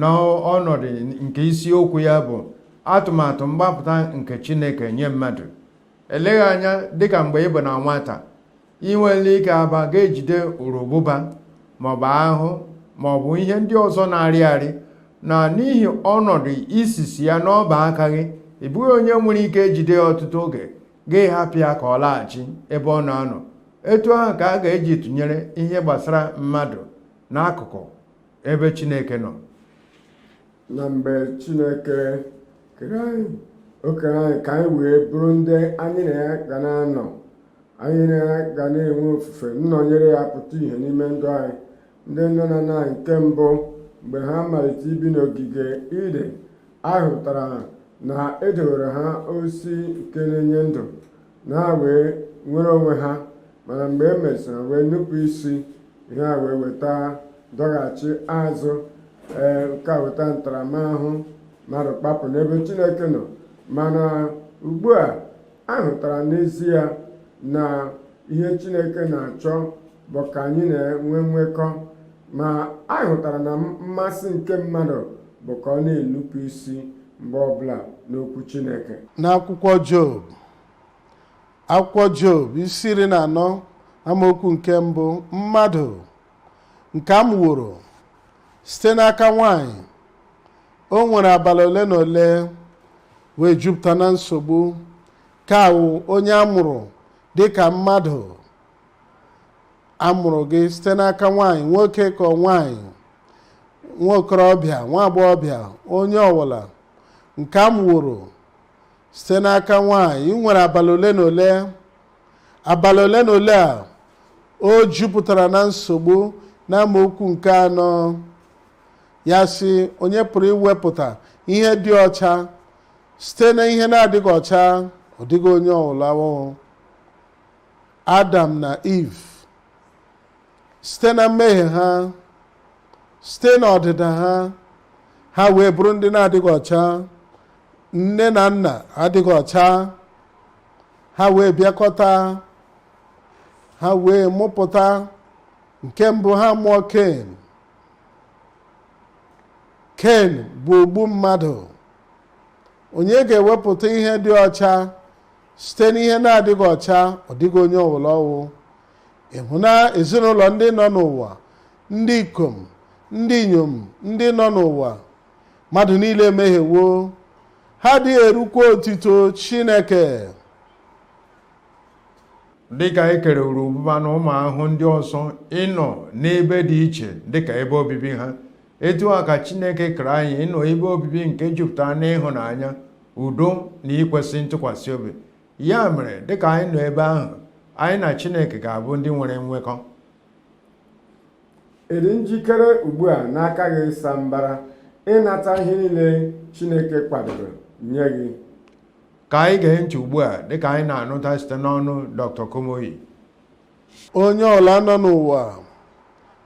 n'ọnọdụ nke isiokwu ya bụ atụmatụ mgbapụta nke Chineke nye mmadụ eleghị anya dịka mgbe ị bụ na nwata i nwele ike aba ga-ejide urubụba maọbụ ahụhụ maọbụ ihe ndị ọzọ na-arị arị na n'ihi ọnọdụ isisi ya n'ọba aka gị ị bụghị onye nwere ike ejide ya ọtụtụ oge gị hapụ ya ka ọ laghachi ebe ọ na-anọ etu ahụ ka a ga-eji tụnyere ihe gbasara mmadụ n'akụkụ ebe Chineke nọ na mgbe Chineke kere anyị o kere anyị ka anyị wee bụrụ ndị anyị na ya ga na-anọ anyị na ya ga na-enwe ofufe nnọnyere ya pụta ihe n'ime ndụ anyị ndị nne na nna anyị nke mbụ mgbe ha malite ibi n'ogige Iden a hụtara ha na e dowere ha osisi nke na-enye ndụ na ha wee nwere onwe ha mana mgbe e mesịrị wee nupụ isi ihe a wee weta ndọghachi azụ ee nke a weta ntaramahụhụ mmadụ kpapụ n'ebe chineke nọ mana ugbu a anyị hụtara n'ezie na ihe chineke na-achọ bụ ka anyị na-enwe nwekọ ma anyị hụtara na mmasị nke mmadụ bụ ka ọ na-enupụ isi mgbe ọbụla n'okwu Chineke n'akwụkwọ Job akwụkwọ Job isi iri na anọ amaokwu nke mbụ mmadụ nke a mụworo site n'aka nwanyị o nwere abalị ole na ole wee jupụta na nsogbu ka awụ onye a mụrụ dị ka mmadụ a mụrụ gị site n'aka nwaanyị nwoke ka ọ nwaanyị nwa okorobịa nwa agbọghọbịa onye ọwụla nke a mụworo site n'aka nwaanyị ị nwere abalị ole na ole abalị ole na ole a o jupụtara na nsogbu na amaokwu nke anọ ya sị onye pụrụ iwepụta ihe dị ọcha site na ihe na-adịghị ọcha ọ dịghị onye ọwụla ọ wụ adam na eve site na mmehie ha site na ọdịda ha ha wee bụrụ ndị na-adịghị ọcha nne na nna adịghị ọcha ha wee bịakọta ha wee mụpụta nke mbụ ha mụọ ken ken bụ ogbu mmadụ onye ga-ewepụta ihe dị ọcha site n'ihe na-adịghị ọcha ọ dịghị onye ọwụla ọ wụ ị hụ na ezinụlọ ndị nọ n'ụwa ndị ikom ndị inyom ndị nọ n'ụwa mmadụ niile emehiewo ha adịghị erukwa otito chineke dịka e kere urubụba na ụmụ ahụhụ ndị ọzọ ịnọ n'ebe dị iche dịka ebe obibi ha etu a ka chineke kere anyị ịnọ ebe obibi nke jupụtara n'ịhụnanya udo na ikwesị ntụkwasị obi ya mere dịka anyị nọ ebe ahụ anyị na Chineke ga-abụ ndị nwere nnwekọ ị dị njikere ugbu a n'aka gị sa mbara ịnata ihe niile Chineke kwadoro nye gị ka anyị gee ntị ugbu a dịka anyị na-anụta site n'ọnụ Dr. Kumuyi onye ọwụla nọ n'ụwa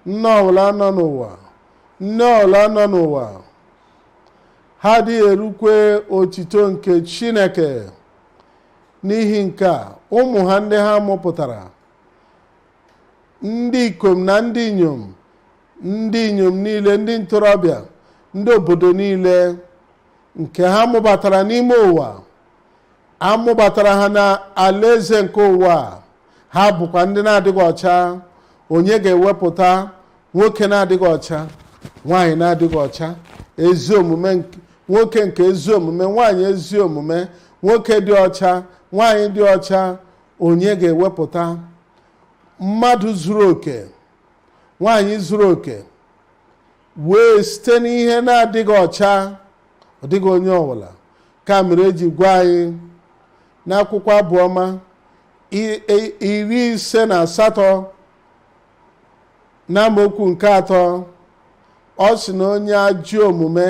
nne ọwụla nọ n'ụwa nne ọwụla nọ n'ụwa ha adịghị erukwe otito nke chineke n'ihi nke a ụmụ ha ndị ha mụpụtara ndị ikom na ndị inyom ndị inyom niile ndị ntorobịa ndị obodo niile nke ha mụbatara n'ime ụwa a mụbatara ha na alaeze nke ụwa a ha bụkwa ndị na-adịghị ọcha onye ga-ewepụta nwoke na-adịghị ọcha nwaanyị na-adịghị ọcha ezi omume nwoke nke ezi omume nwaanyị ezi omume nwoke dị ọcha nwaanyị dị ọcha onye ga-ewepụta mmadụ zuru oke nwaanyị zuru oke wee site n'ihe na-adịghị ọcha ọ dịghị onye ọwụla nke a mere e ji gwa anyị n'akwụkwọ abụ ọma i- i- iri ise na asatọ n'amaokwu nke atọ ọ sị na onye ajọ omume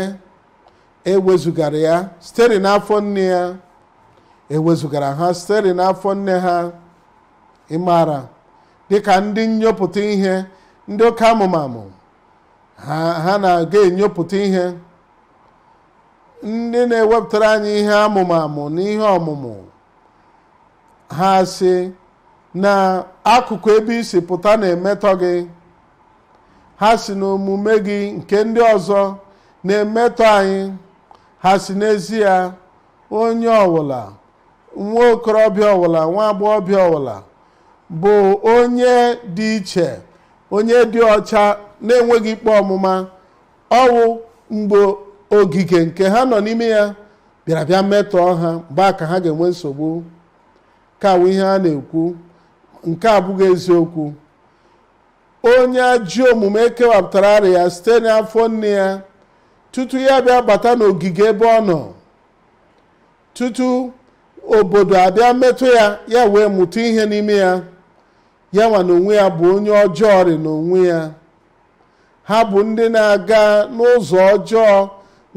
e wezugara ya sitere n'afọ nne ya e wezugara ha sitere n'afọ nne ha ị mara dịka ndị nnyopụta ihe ndị oke amụmamụ ha ha na-aga enyopụta ihe ndị na-ewepụtara anyị ihe amụmamụ na ihe ọmụmụ ha sị na akụkụ ebe i si pụta na-emetọ gị ha sị na omume gị nke ndị ọzọ na-emetọ anyị ha sị n'ezie onye ọwụla nwa okorobịa ọwụla nwa agbọghọbịa ọwụla bụ onye dị iche onye dị ọcha na-enweghị ikpe ọmụma ọ wụ mgbe ogige nke ha nọ n'ime ya bịara bịa metọọ ha mgbe a ka ha ga-enwe nsogbu nke a wụ ihe a na-ekwu nke abụghị eziokwu onye ajọ omume ekewapụtararị ya site n'afọ nne ya tutu ya bịa bata n'ogige ebe ọ nọ tutu obodo abịa metụ ya ya wee mụta ihe n'ime ya ya nwa na onwe ya bụ onye ọjọọ rị n'onwe ya ha bụ ndị na-aga n'ụzọ ọjọọ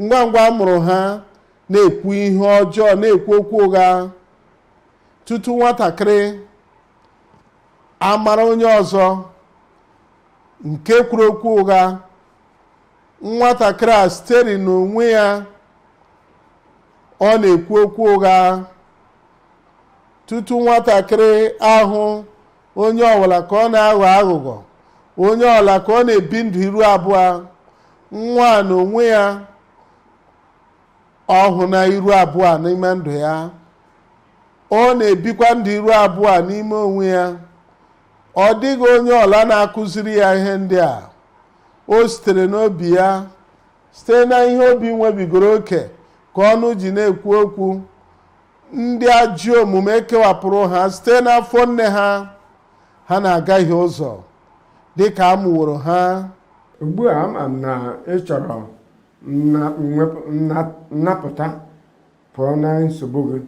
ngwa ngwa a mụrụ ha na-ekwu ihe ọjọọ na-ekwu okwu ụgha tutu nwatakịrị amara onye ọzọ nke kwuru okwu ụgha nwatakịrị a sitere n'onwe ya ọ na-ekwu okwu ụgha tutu nwatakịrị ahụ onye ọwụla ka ọ na-aghọ aghụghọ onye ọwụla ka ọ na-ebi ndụ iru abụọ nwa a na onwe ya ọ hụna iru abụọ n'ime ndụ ya ọ na-ebikwa ndụ iru abụọ n'ime onwe ya ọ dịghị onye ọwụla na-akụziri ya ihe ndị a o sitere n'obi ya site na ihe obi nwebigoro oke ka ọnụ ji na-ekwu okwu ndị ajọ omume ekewapụrụ ha site n'afọ nne ha ha na-agahie ụzọ dị ka a mụworo ha ugbu a ama m na ị chọrọ nnapụta pụọ na nsogbu gị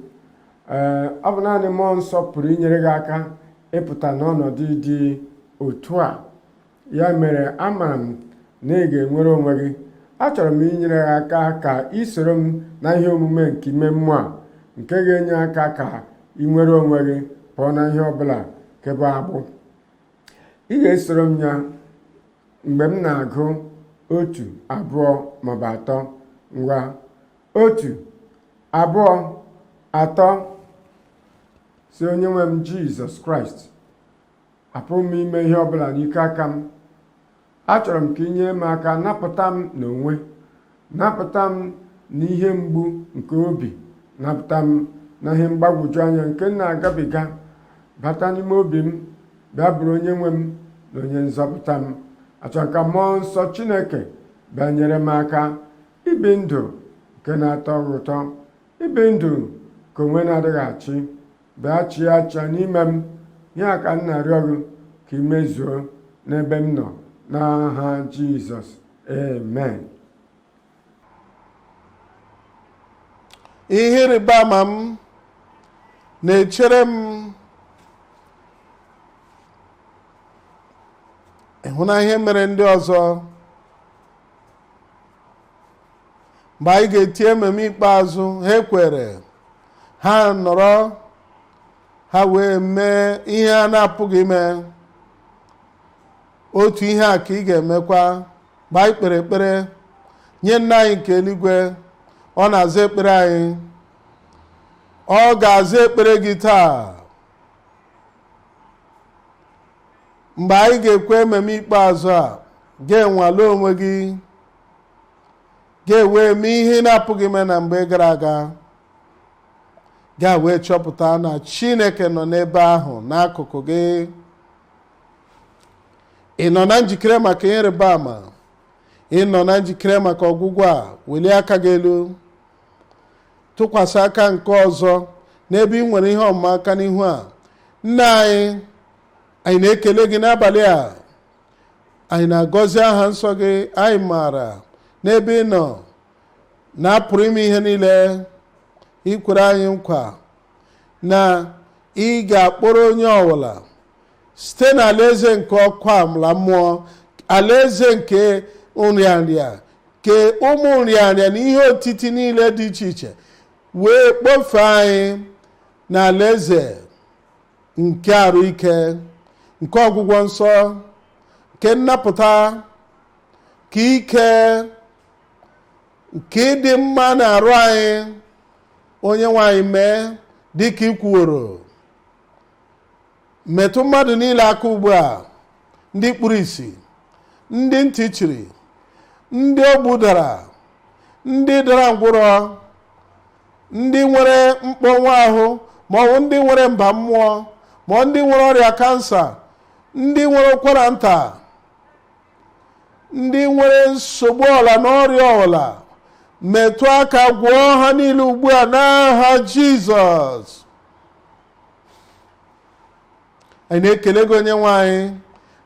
ee ọ bụ naanị mmụọ nsọ pụrụ inyere gị aka ịpụta n'ọnọdụ dị otu a ya mere ama m na ị ga-enwere onwe gị achọrọ m inyere gị aka ka ị soro m na ihe omume nke ime mmụọ a nke ga-enye aka ka ị nwere onwe gị pụọ na ihe ọbụla nke bụ agbụ ị ga-esoro m ya mgbe m na-agụ otu abụọ maọbụ atọ ngwa otu abụọ atọ sị onye nwe m jizọs kraịst Apụghị m ime ihe ọbụla n'ike aka m. Achọrọ m ka ị nyere m aka napụta m n'onwe, napụta m n'ihe mgbu nke obi, napụta m na ihe mgbagwoju anya nke m na-agabiga. Bata n'ime obi m, bịa bụrụ onye nwe m na onye nzọpụta m. Achọrọ m ka mmụọ nsọ Chineke bịa nyere m aka ibi ndụ nke na-atọ gị ụtọ, ibi ndụ nke onwe na-adịghị achị, bịa chịa achịa n'ime m ihe a ka m na-arịọ gị ka ị mezuo n'ebe m nọ n'aha jizọs amen ihe ịrịba ama m na-echere m ị hụna ihe mere ndị ọzọ mgbe anyị ga-eti amen ikpeazụ ha ekwere ha nọrọ ha wee mee ihe a na-apụghị ime otu ihe a ka ị ga-emekwa mgbe anyị kpere ekpere nye nna anyị nke eluigwe ọ na-aza ekpere anyị ọ ga-aza ekpere gị taa mgbe anyị ga-ekwe amen ikpeazụ a ga-enwale onwe gị gị ewee mee ihe ị na-apụghị ime na mgbe gara aga gị wee chọpụta na chineke nọ n'ebe ahụ n'akụkụ gị ị nọ na njikere maka ihe ịrịba ama ị nọ na njikere maka ọgwụgwọ a welie aka gị elu tụkwasị aka nke ọzọ n'ebe ị nwere ihe ọmụma aka n'ihu a nna anyị anyị na-ekele gị n'abalị a anyị na-agọzi aha nsọ gị anyị maara n'ebe ị nọ na a pụrụ ime ihe niile i kwere anyị nkwa na ị ga-akpọrọ onye ọbụla site na alaeze nke ọkụ ala mmụọ alaeze nke nrịanrịa ke ụmụ nrịanrịa na ihe otiti niile dị iche iche wee kpọfee anyị na alaeze nke arụ ike nke ọgwụgwọ nsọ nke nnapụta nke ike nke ịdị mma n'arụ anyị onye nwe anyị mee dị ka i kwuworo metụ mmadụ niile aka ugbu a ndị kpuru isi ndị ntị chiri ndị ogbu dara ndị dara ngwụrọ ndị nwere mkpọnwụ ahụ ma ọ bụ ndị nwere mba mmụọ ma ọ ndị nwere ọrịa kansa ndị nwere ụkwara nta ndị nwere nsogbu ọbụla na ọrịa ọbụla metụ aka gwọọ ha niile ugbu a n'aha jizọs anyị na-ekele gị onye nwe anyị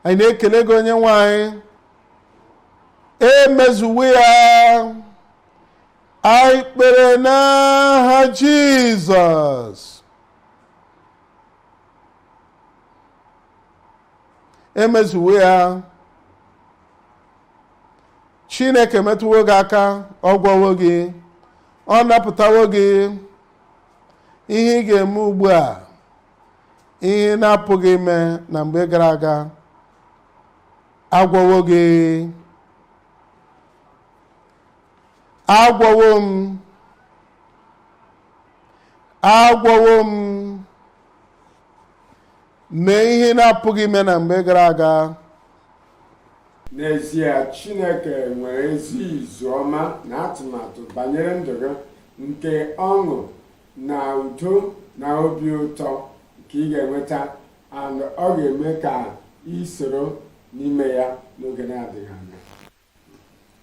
anyị na-ekele gị onye nwe anyị emezuwo ya Anyị kpere n'aha Jizọs. Emezuwo ya. Chineke metụwo gị aka, ọ gwọwo gị, ọ napụtawo gị. Ihe ị ga-eme ugbu a, ihe ị na-apụghị ime na mgbe gara aga, agwọwo gị. agwọwo m agwọwo m mee ihe na-apụghị ime na mgbe gara aga n'ezie chineke nwere ezi izu ọma na atụmatụ banyere ndụ gị nke ọṅụ na udo na obi ụtọ nke ị ga-enweta and ọ ga-eme ka i soro n'ime ya n'oge na-adịghị anya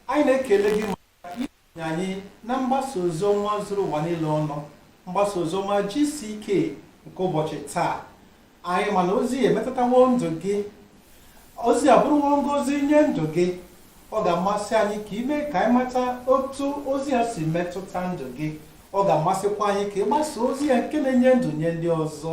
anyị na-ekele gị maka inye anyị na mgbasa ozi ọma zuru ụwa niile ọnụ mgbasa ozi ọma GCK nke ụbọchị taa anyị ma na ozi a emetụtawo ndụ gị ozi a abụrụwo ngozi nye ndụ gị ọ ga-amasị anyị ka i mee ka anyị mata otu ozi ya si metụta ndụ gị ọ ga-amasịkwa anyị ka ị gbasaa ozi ya nke na-enye ndụ nye ndị ọzọ